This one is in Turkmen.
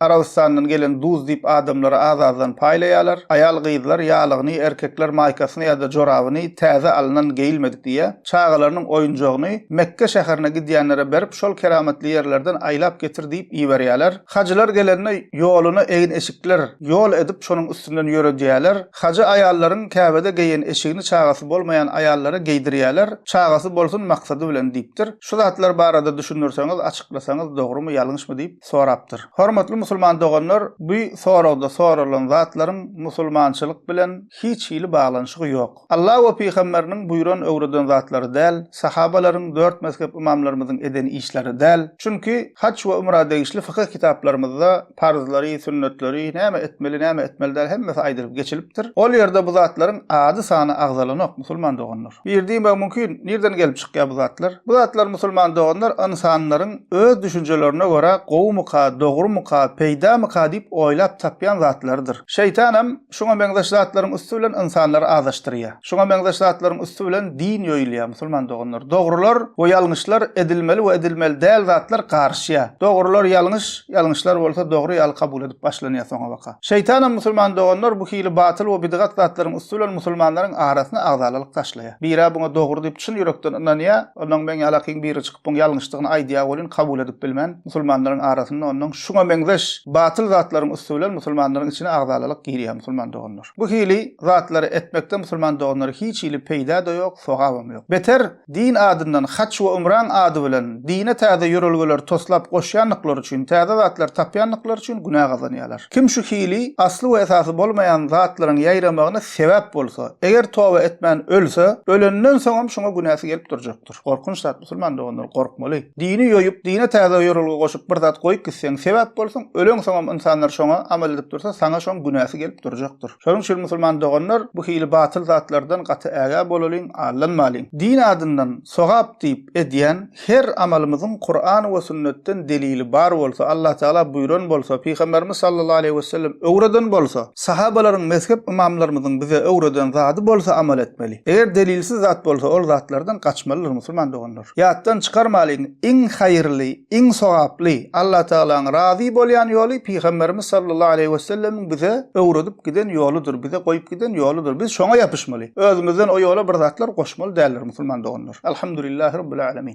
Arabystandan gelen duz diýip adamlara az-azdan paýlaýarlar. Aýal-gyzlar ýalygyny, erkekler maýkasyny ýa-da jorabyny täze alnan geýilmedik diýýä. Çagalarynyň oýunjagyny Mekge şäherine gidýänlere berip, şol keramatly ýerlerden aýlap getir diýip iberýärler. Hajylar gelende ýoluna egin-eşikler ýol edip, şonuň üstünden ýöredýärler. Hajy aýallaryň Käbede geýen eşigini çagasy bolmaýan aýallara geýdirýärler, çagasy bolsun maksady bilen diýipdir. Şu zatlar barada düşündirseňiz, açyklasaňyz dogrumy, ýalňyşmy diýip. sorapdyr. Hormatly musulman doganlar, bu soragda soralan zatlaryň musulmançylyk bilen hiç hili baglanyşygy ýok. Alla we pygamberiniň buýran öwreden zatlary däl, sahabalaryň, dört mezhep ymamlarymyzyň eden işleri däl. Çünki haj we umra degişli fykyh kitaplarymyzda parzlary, sünnetleri, näme etmeli, näme etmeli däl hemmesi aýdylyp geçilipdir. Ol ýerde bu zatlaryň ady-sany agzalanok musulman doganlar. Bir diýmek mümkin, nirden gelip çykýar bu zatlar? Bu zatlar musulman doganlar ynsanlaryň öz düşünjelerine görä gowumyka, dogrumyka, peýdamyka diýip oýlap tapýan zatlarydyr. Şeýtanam şuňa meňzeş zatlaryň üsti bilen ynsanlary azaşdyrýar. Şuňa meňzeş zatlaryň üsti bilen din ýoýulýar, musulman doganlar. Dogrular we ýalňyşlar, edilmeli we edilmeli däl zatlar garyşýar. Dogrular ýalňyş, Ýalňyşlar bolsa dogry ýaly kabul edip başlanýar soňabaka. Şeýtanam musulman doganlar bu hili batyl we bidgat zatlaryň üsti bilen musulmanlaryň arasyna agzalalyk taşlaýar. Birä buňa dogry diýip çyn ýürekden ynanýar, onnoň meň ýalakyň biri çykyp buň ýalňyşdygyny aýdýar welin kabul edip bilmän, musulmanlaryň arasynda onnoň şuňa meňzeş batyl zatlaryň üsti bilen musulmanlaryň içine agzalalyk girýär musulman doganlar. Bu hili zatlary etmekde musulman doganlara hiç hili peýda-da ýok, sogabam ýok. Beter Din adyndan haç we umraň ady bilen dine täze ýörelgeleri toslap goşýandyklary üçin, täze zatlar tapýandyklary üçin günä gazanýarlar. Kim şu hili asly we esasy bolmaýan zatlaryň ýaýramagyna sebäp bolsa, eger toba etmän ölse, ölenden soňam şuňa günäsi gelip durjakdyr. Gorkunç zat musulman doganlar, gorkmaly. Dini ýoýup, dine täze ýörelge goşup bir zat goýup gitseň, sebäp bolsaň, öleňsoňam ynsanlar şoňa amal edip dursa, saňa şoň günäsi gelip durjakdyr. Şonuň üçin musulman doganlar, bu hili batyl zatlardan gaty ägä bolalyň. Allan malyn, din adyndan sogap diýip edýän her amalymyzyň Kuran we sünnetden delili bar bolsa, Allah Tagala buýran bolsa, Pygamberimiz sallallahu aleýhi wesellem öwreden bolsa, sahabalaryň, mezhep ymamlarymyzyň bize öwreden zady bolsa amal etmeli. Eger delilsiz zat bolsa ol zatlardan gaçmalydyr musulman doganlar. Ýatdan çykarmalyň, iň haýyrly, iň sogaply, Allatagalaň razy bolýan ýoly Pygamberimiz sallallahu aleýhi wesellemiň bize öwredip giden ýoludyr, bize goýup giden ýoludyr. Biz şoňa ýapyşmaly. Özümizden o ýola bir zatlar goşmaly däldir, musulman doganlar. Alhamdulillah Rabbil Alamin.